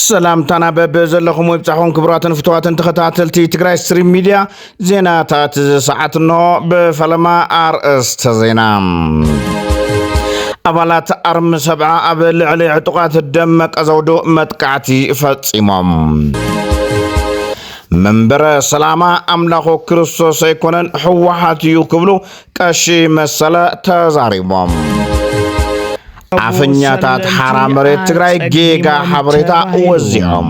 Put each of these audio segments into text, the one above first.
ሰላምታና በብ ዘለኹም ወብፃኹም ክቡራትን ፍትዋትን ተኸታተልቲ ትግራይ ስትሪም ሚድያ ዜናታት እዚ ሰዓት እንሆ ብፈለማ ኣርእስተ ዜና ኣባላት ኣርሚ ሰብዓ ኣብ ልዕሊ ዕጡቓት ደመቀ ዘውዱ መጥቃዕቲ ፈፂሞም መንበረ ሰላማ ኣምላኹ ክርስቶስ ኣይኮነን ህወሓት እዩ ክብሉ ቀሺ መሰለ ተዛሪቦም። ኣፈኛታት ሓራ መሬት ትግራይ ጌጋ ሓበሬታ ወዚዖም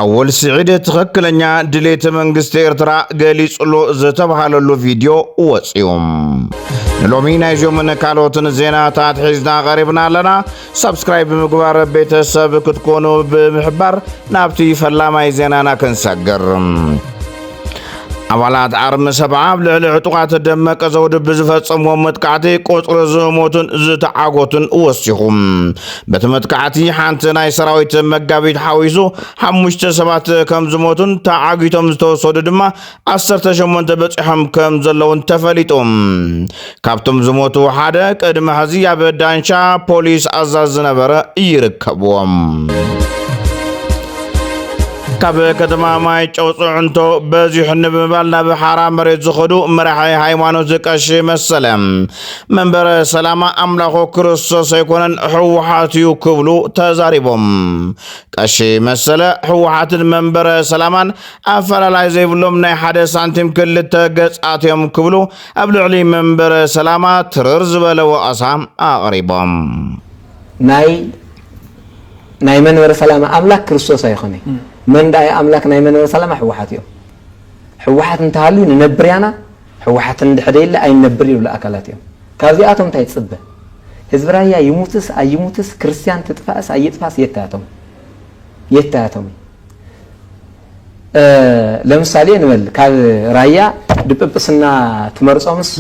ኣወል ስዒድ ትኽክለኛ ድሌት መንግስቲ ኤርትራ ገሊጽሉ ዝተብሃለሉ ቪድዮ ወፅዩ ንሎሚ ናይዞምን ካልኦትን ዜናታት ሒዝና ቐሪብና ኣለና ሳብስክራይብ ብምግባር ቤተሰብ ክትኮኑ ብምሕባር ናብቲ ፈላማይ ዜናና ክንሰግር ኣባላት ኣርሚ ሰብዓ ኣብ ልዕሊ ዕጡቓት ደመቀ ዘውዲ ብዝፈጸምዎ መጥቃዕቲ ቁፅሪ ዝሞቱን ዝተዓጎቱን ወሲኹ በቲ መጥቃዕቲ ሓንቲ ናይ ሰራዊት መጋቢት ሓዊሱ ሓሙሽተ ሰባት ከም ዝሞቱን ተዓጊቶም ዝተወሰዱ ድማ ዓሰርተ ሸሞንተ በፂሖም ከም ዘለውን ተፈሊጡ ካብቶም ዝሞቱ ሓደ ቅድሚ ሕዚ ኣብ ዳንሻ ፖሊስ ኣዛዝ ዝነበረ ይርከብዎም ካብ ከተማ ማይ ጨው ፅዕንቶ በዚሑ ንምባል ናብ ሓራ መሬት ዝኸዱ መራሒ ሃይማኖት ዝቀሺ መሰለ መንበረ ሰላማ ኣምላኹ ክርስቶስ ኣይኮነን ህወሓት እዩ ክብሉ ተዛሪቦም። ቀሺ መሰለ ህወሓትን መንበረ ሰላማን ኣፈላላይ ዘይብሎም ናይ ሓደ ሳንቲም ክልተ ገጻት እዮም ክብሉ ኣብ ልዕሊ መንበረ ሰላማ ትርር ዝበለ ወቐሳ ኣቕሪቦም። ናይ ናይ መንበረ ሰላማ ኣምላክ ክርስቶስ ኣይኾነ መን ዳኣ እዩ ኣምላክ ናይ መንበረ ሰላማ ሕወሓት እዮም ሕወሓት እንተሃልዩ ንነብር ያና ሕወሓት እንድሕደይለ ኣይንነብር ይብሉ ኣካላት እዮም ካብዚኣቶም እንታይ ትፅበ ህዝቢ ራያ ይሙትስ ኣይሙትስ ክርስትያን ትጥፋእስ ኣይጥፋስ የታያቶም የታያቶም እዩ ለምሳሌ ንበል ካብ ራያ ድጵጵስና ትመርፆምስ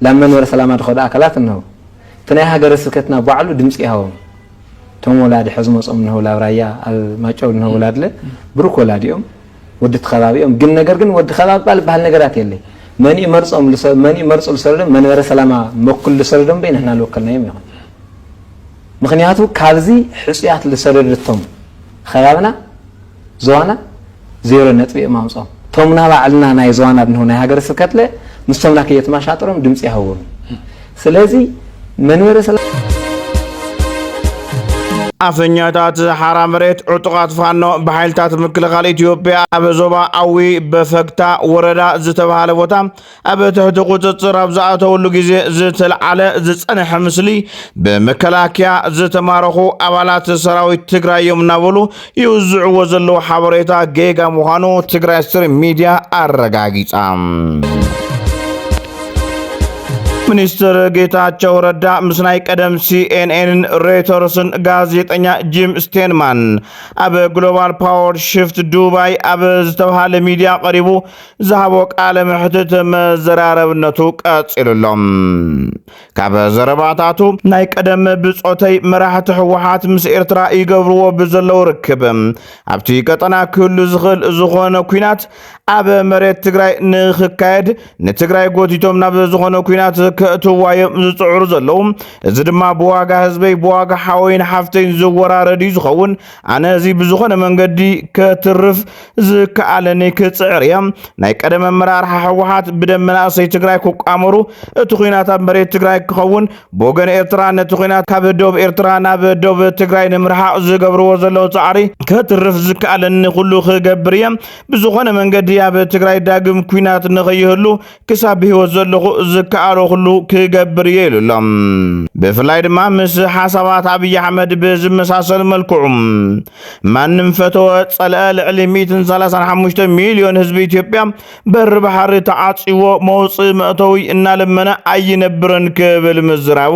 ላብ መንበረ ሰላማ ድኸዱ ኣካላት እነሆ እቲ ናይ ሃገረ ስብከትና ባዕሉ ድምፂ ይሃቦም እቶም ወላዲ ሕዚ መፆም እነሆ ላብ ራያ ኣብ ማጨው እነሆ ወላድለ ብሩክ ወላዲኦም ወዲ እቲ ከባቢኦም ግን ነገር ግን ወዲ ከባቢ ባል ዝበሃል ነገራት የለይ መን መርፆም መን መርፁ ልሰለዶም መንበረ ሰላማ መኩል ልሰለዶም በይ ንሕና ልወከልናዮም ይኹን ምክንያቱ ካብዚ ሕፁያት ልሰደድቶም ኸባብና ዞዋና ዜሮ ነጥቢ እዮም ኣምጽኦም ቶም ናባዕልና ናይ ዞዋና ብንሁ ናይ ሃገረ ስብከትለ ምስቶም ናከ የትማሻጥሮም ድምጺ ያህቦም ስለዚ መንበረ ሰላም ኣፈኛታት ሓራ መሬት ዕጡቓት ፋኖ ብሓይልታት ምክልኻል ኢትዮጵያ ኣብ ዞባ ኣዊ በፈግታ ወረዳ ዝተባሃለ ቦታ ኣብ ትሕቲ ቁፅፅር ኣብ ዝኣተውሉ ግዜ ዝተልዓለ ዝፀንሐ ምስሊ ብመከላከያ ዝተማረኹ ኣባላት ሰራዊት ትግራይ እዮም እናበሉ ይውዝዕዎ ዘለዉ ሓበሬታ ጌጋ ምዃኑ ትግራይ ስትሪም ሚድያ ኣረጋጊፃ። ሚኒስትር ጌታቸው ረዳ ምስ ናይ ቀደም ሲኤንኤንን ሬተርስን ጋዜጠኛ ጂም ስቴንማን ኣብ ግሎባል ፓወር ሽፍት ዱባይ ኣብ ዝተብሃለ ሚድያ ቀሪቡ ዝሃቦ ቃለ መሕትት መዘራረብነቱ ቀጺሉ ኣሎ። ካብ ዘረባታቱ ናይ ቀደም ብጾተይ መራሕቲ ህወሓት ምስ ኤርትራ ይገብርዎ ብዘለዉ ርክብ ኣብቲ ቀጠና ክህሉ ዝኽእል ዝኾነ ኩናት ኣብ መሬት ትግራይ ንክካየድ ንትግራይ ጎቲቶም ናብ ዝኾነ ኩናት ከእትዋ እዮም ዝፅዕሩ ዘለዉ። እዚ ድማ ብዋጋ ህዝበይ ብዋጋ ሓወይን ሓፍተይን ዝወራረድ እዩ ዝኸውን። ኣነ እዚ ብዝኾነ መንገዲ ከትርፍ ዝከኣለኒ ክፅዕር እየ። ናይ ቀደም ኣመራርሓ ህወሓት ብደም መናእሰይ ትግራይ ክቋመሩ እቲ ኩናት ኣብ መሬት ትግራይ ክኸውን ብወገን ኤርትራ ነቲ ኩናት ካብ ዶብ ኤርትራ ናብ ዶብ ትግራይ ንምርሓቕ ዝገብርዎ ዘለዉ ፃዕሪ ከትርፍ ዝከኣለኒ ኩሉ ክገብር እየ። ብዝኾነ መንገዲ ኣብ ትግራይ ዳግም ኩናት ንኸይህሉ ክሳብ ብህይወት ዘለኹ ዝከኣሎ ኩሉ ክገብር እየ ኢሉ ኣሎ። ብፍላይ ድማ ምስ ሓሳባት ኣብዪ ኣሕመድ ብዝመሳሰል መልክዑ ማንም ፈተወ ጸልአ ልዕሊ 135 ሚልዮን ህዝቢ ኢትዮጵያ በሪ ባሕሪ ተዓጽዎ መውጽኢ መእተዊ እናለመነ ኣይነብርን ክብል ምዝራቡ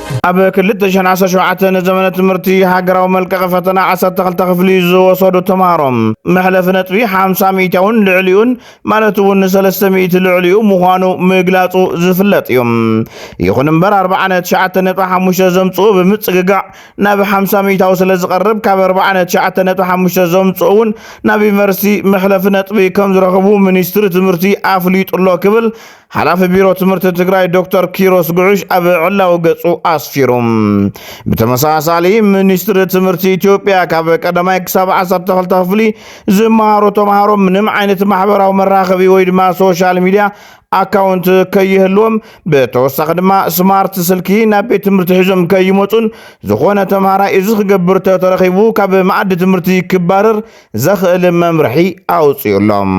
ኣብ ክልተ ሽሕን ዓሰርተ ሸውዓተን ንዘመነ ትምህርቲ ሃገራዊ መልቀቒ ፈተና ዓሰርተ ክልተ ክፍሊ ዝወሰዱ ተምሃሮ መሕለፊ ነጥቢ ሓምሳ ሚእታውን ልዕሊኡን ማለት እውን ንሰለስተ ሚእቲ ልዕሊኡ ምዃኑ ምግላጹ ዝፍለጥ እዩ። ይኹን እምበር ኣርብዓ ነትሽዓተ ነጥቢ ሓሙሽተ ዘምጽኡ ብምጽግጋዕ ናብ ሓምሳ ሚእታዊ ስለ ዝቐርብ ካብ ኣርብዓ ነትሽዓተ ነጥቢ ሓሙሽተ ዘምጽኡ እውን ናብ ዩኒቨርሲቲ መሕለፊ ነጥቢ ከም ዝረኽቡ ሚኒስትሪ ትምህርቲ ኣፍሊጡ ኣሎ ክብል ሓላፊ ቢሮ ትምህርቲ ትግራይ ዶክተር ኪሮስ ጉዑሽ ኣብ ዕላዊ ገጹ ኣስፊሩ። ብተመሳሳሊ ሚኒስትሪ ትምህርቲ ኢትዮጵያ ካብ ቀዳማይ ክሳብ ዓሰርተ ክልተ ክፍሊ ዝመሃሩ ተምሃሮ ምንም ዓይነት ማሕበራዊ መራኸቢ ወይ ድማ ሶሻል ሚዲያ ኣካውንት ከይህልዎም ብተወሳኺ ድማ ስማርት ስልኪ ናብ ቤት ትምህርቲ ሒዞም ከይመፁን ዝኾነ ተምሃራይ እዚ ክገብር ተተረኺቡ ካብ መኣዲ ትምህርቲ ክባረር ዘኽእል መምርሒ ኣውፅኡሎም።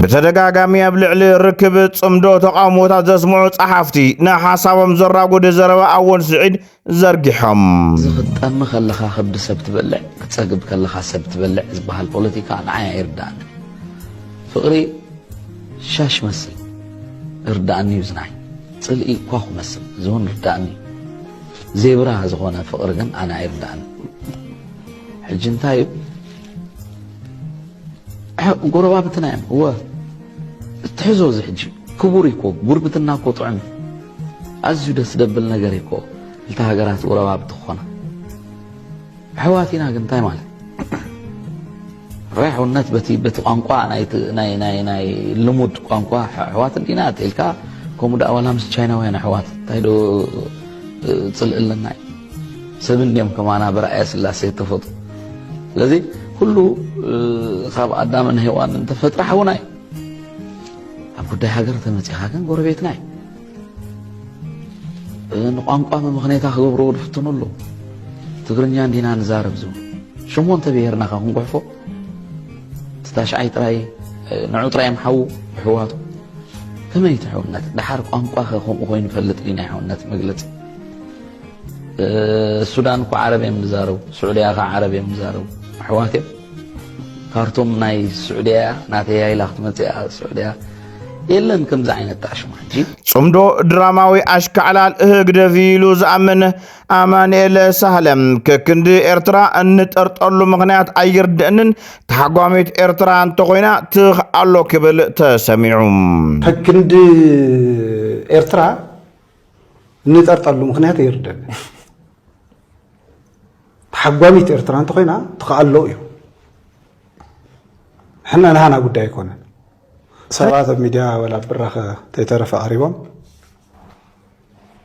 ብተደጋጋሚ ኣብ ልዕሊ ርክብ ጽምዶ ተቓውሞታት ዘስምዑ ጸሓፍቲ ንሓሳቦም ዘራጉድ ዘረባ ኣወል ስዒድ ዘርጊሖም እዚ ክትጠሚ ከለኻ ከብዲ ሰብ ትበልዕ ክትጸግብ ከለኻ ሰብ ትበልዕ ዝበሃል ፖለቲካ ንዓይ ኣይርዳእኒ ፍቕሪ ሻሽ መስል እርዳእኒ እዩ ዝናይ ጽልኢ እኳ ክመስል እዚ እውን ርዳእኒ እዩ ዜብራ ዝኾነ ፍቕሪ ግን ኣነ ኣይርድኣንን ሕጂ እንታይ እዩ ጎረባብትና እዮም እወ እትሕዞ እዚ ሕጂ ክቡር እኮ ጉርብትና እኮ ጥዑም እዩ ኣዝዩ ደስ ደብል ነገር እኮ እልቲ ሃገራት ጎረባብቲ ክኾና ኣሕዋት ኢና ግን እንታይ ማለት ርሑነት በቲ በቲ ቋንቋ ናይ ናይ ናይ ልሙድ ቋንቋ ኣሕዋት እንዲና ኣትልካ ከምኡ ደኣ ዋላ ምስ ቻይናውያን ኣሕዋት እንታይ ዶ ፅልእ ኣለና ሰብ እንዲኦም ከማና ብረኣያ ስላሴ ተፈጡ ስለዚ ኩሉ ካብ ኣዳምን ሄዋን እንተፈጥረ ሓውና እዩ ኣብ ጉዳይ ሃገር ተመፂኻ ግን ጎረቤትና እዩ ንቋንቋ መመኽነይታ ክገብርዎ ዝፍትኑ ኣለዉ ትግርኛ እንዲና ንዛረብ ዝቡ ሸሞንተ ብሄርና ካ ክንጉሕፎ እቲ ታሽዓይ ጥራይ ንዑ ጥራይ እዮም ሓዉ ኣሕዋቱ ከመይ እቲ ሕውነት ድሓር ቋንቋ ከ ከምኡ ኮይኑ ፈልጥ ድዩ ናይ ሕውነት መግለፂ ሱዳን እኮ ዓረብ እዮም ዝዛረቡ ስዑድያ ከ ዓረብ እዮም ዝዛረቡ ኣሕዋት እዮም ካርቱም ናይ ስዑድያ ናተይ ኢላ ክትመፅእ እያ ስዑድያ የለን ከምዚ ዓይነት ጣዕሽም ሕጂ ጽምዶ ድራማዊ ኣሽካዕላል ህግደፍ ኢሉ ዝኣምን ኣማንኤለ ሳህለ ከክንዲ ኤርትራ እንጠርጠሉ ምኽንያት ኣይርድእንን ተሓጓሚት ኤርትራ እንተኾይና ትኽ ኣሎ ክብል ተሰሚዑ ከክንዲ ኤርትራ እንጠርጠሉ ምኽንያት ኣይርድእንን ተሓጓሚት ኤርትራ እንተኾይና ትኽኣሎ እዩ ሕና ንሃና ጉዳይ ኣይኮነን ሰባት ኣብ ሚድያ ወላ ኣብ ብራኸ ከይተረፈ ቀሪቦም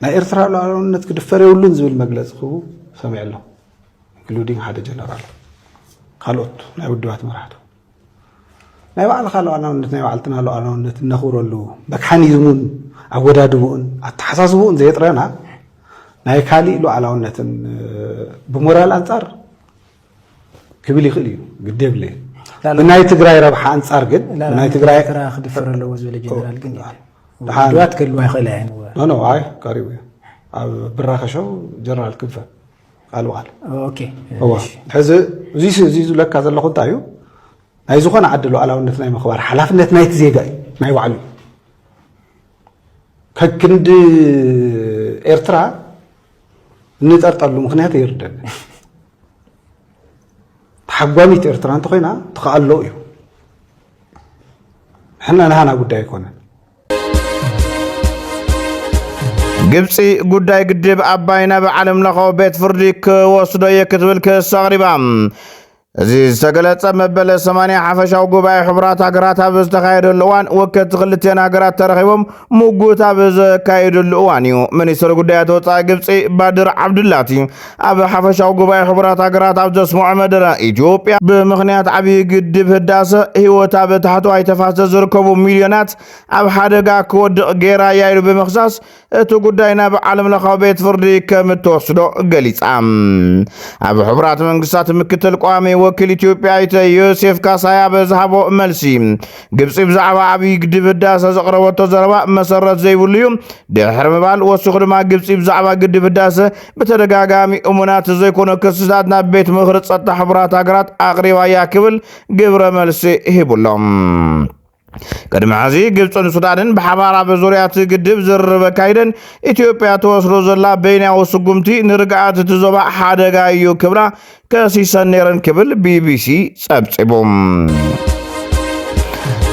ናይ ኤርትራ ሉዓላውነት ክድፈር የብሉን ዝብል መግለፂ ክህቡ ሰሚዐ ኣለኹ ኢንክሉዲንግ ሓደ ጀነራል ካልኦት ናይ ውድባት መራሕቱ ናይ ባዕልኻ ሉዓላውነት ናይ ባዕልትና ሉዓላውነት እነኽብረሉ መካኒዝሙን ኣወዳድብኡን ኣተሓሳስብኡን ዘየጥረና ናይ ካሊእ ሉዓላውነትን ብሞራል ኣንፃር ክብል ይኽእል እዩ ግዲ የብለይ ብናይ ትግራይ ረብሓ ኣንጻር ግን ናይ ትግራይ ክድፈር ኣለዎ ዝበለ ጀነራል ግን ድዋት ከልዋ ይኽእል ኖ ኣይ ቀሪቡ እዩ ኣብ ብራኸሾ ጀነራል ክንፈ ቃል በቃል ሕዚ እዚ ዝብለካ ዘለኹ እንታይ እዩ ናይ ዝኾነ ዓዲ ሉዓላውነት ናይ ምኽባር ሓላፍነት ናይቲ ዜጋ እዩ ናይ ባዕሉ ከክንዲ ኤርትራ እንጸርጠሉ ምክንያት ይርደእ ተሓጓሚት ኤርትራ እንተኮይና ትኸኣሎ እዩ ሕና ናሃና ጉዳይ ኣይኮነን ግብፂ ጉዳይ ግድብ ኣባይ ናብ ዓለም ለኸ ቤት ፍርዲ ክወስዶ እየ ክትብል ክስ ኣቕሪባ እዚ ዝተገለጸ መበለ ሰማንያ ሓፈሻዊ ጉባኤ ሕቡራት ሃገራት ኣብ ዝተኻየደሉ እዋን ወከልቲ ክልቴን ሃገራት ተረኺቦም ምጉት ኣብ ዘካየድሉ እዋን እዩ። ሚኒስትሪ ጉዳያት ወፃኢ ግብፂ ባድር ዓብዱላቲ ኣብ ሓፈሻዊ ጉባኤ ሕቡራት ሃገራት ኣብ ዘስምዖ መደረ ኢትዮጵያ ብምኽንያት ዓብዪ ግድብ ህዳሰ ህይወት ኣብ ታሕተዋይ ተፋሰስ ዝርከቡ ሚልዮናት ኣብ ሓደጋ ክወድቕ ገይራ እያ ኢሉ ብምክሳስ እቲ ጉዳይ ናብ ዓለም ለኻዊ ቤት ፍርዲ ከም እትወስዶ ገሊጻ። ኣብ ሕቡራት መንግስታት ምክትል ቋሚ ወኪል ኢትዮጵያ ኣይተ ዮሴፍ ካሳይ ኣብ ዝሃቦ መልሲ ግብፂ ብዛዕባ ዓብዪ ግድብ ህዳሰ ዘቕረበቶ ዘረባ መሰረት ዘይብሉ እዩ ድሕሪ ምባል ወሲኹ ድማ ግብፂ ብዛዕባ ግድብ ህዳሰ ብተደጋጋሚ እሙናት ዘይኮነ ክስታት ናብ ቤት ምኽሪ ፀጥታ ሕቡራት ሃገራት ኣቕሪባ እያ ክብል ግብረ መልሲ ሂቡሎም። ቅድሚ ሕዚ ግብፅን ሱዳንን ብሓባር ኣብ ዙርያ እቲ ግድብ ዝርርብ ኣካይደን ኢትዮጵያ ተወስዶ ዘላ በይናዊ ስጉምቲ ንርግኣት እቲ ዞባ ሓደጋ እዩ ክብላ ከሲሰን ነይረን ክብል ቢቢሲ ጸብጺቡ።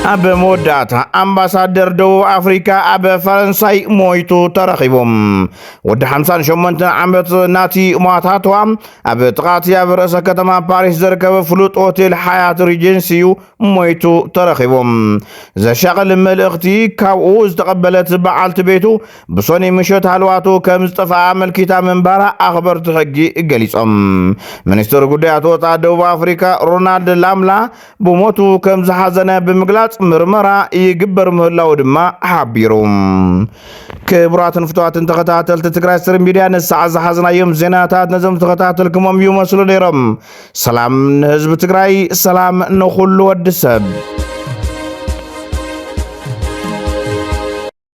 ኣብ መወዳእታ ኣምባሳደር ደቡብ ኣፍሪካ ኣብ ፈረንሳይ ሞይቱ ተረኺቦም ወዲ 58 ዓመት ናቲ ሟታትዋ ኣብ ጥቓቲ ኣብ ርእሰ ከተማ ፓሪስ ዝርከብ ፍሉጥ ሆቴል ሓያት ሪጀንሲ እዩ ሞይቱ ተረኺቡ። ዘሻቕል መልእኽቲ ካብኡ ዝተቐበለት በዓልቲ ቤቱ ብሶኒ ምሸት ሃልዋቱ ከም ዝጠፍኣ ኣመልኪታ ምንባራ ኣኽበርቲ ሕጊ ገሊጾም። ሚኒስትር ጉዳያት ወጻእ ደቡብ ኣፍሪካ ሮናልድ ላምላ ብሞቱ ከም ዝሓዘነ ብምግላጽ ምርመራ ይግበር ምህላው ድማ ሓቢሩ። ክቡራትን ፍትዋትን ተኸታተልቲ ትግራይ ስር ሚድያ ንሳዕ ዝሓዝናዮም ዜናታት ነዞም ዝተኸታተልክሞም ይመስሉ ነይሮም። ሰላም ንህዝቢ ትግራይ፣ ሰላም ንኹሉ ወዲ ሰብ።